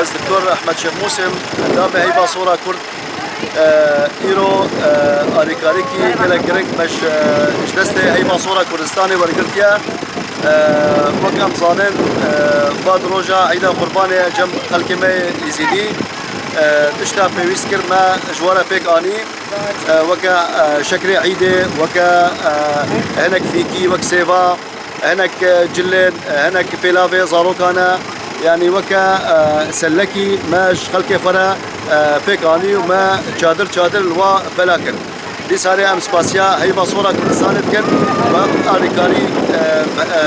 Ez Doktor Ehmed Şêx Musê im, endamê Heyva Sora Kurd. Îro alîkarîkî gelek giring me ji ji destê Heyva Sora Kurdistanê wergirtiye. Wek em zanin va di roja Îda Qurbanê cem xelkê me yê Îzîdî tişta pêwîst kir me ji we re pêk anî. Weke şekrê îdê, weke hinek fîkî, wek sêva, hinek cilên, hinek pêlavê zarokan e. Yanî weke sellekî me ji xelkê xwe re pêk anî û me çadir çadir li wan bela kir. Dîsarê em spasiya heyva sora Kurdistanê dikin ku hem alîkarî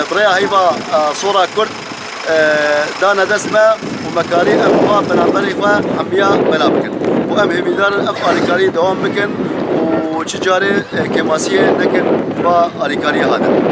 bi rêya heyva sora Kurd, dane dest me û me karî em bi van penaberên xwe hemiya bela bikin û em hêvîdar in ev alîkarî dewam bikin û çi carê kêmasiyê nekin va alîkariyê hatin.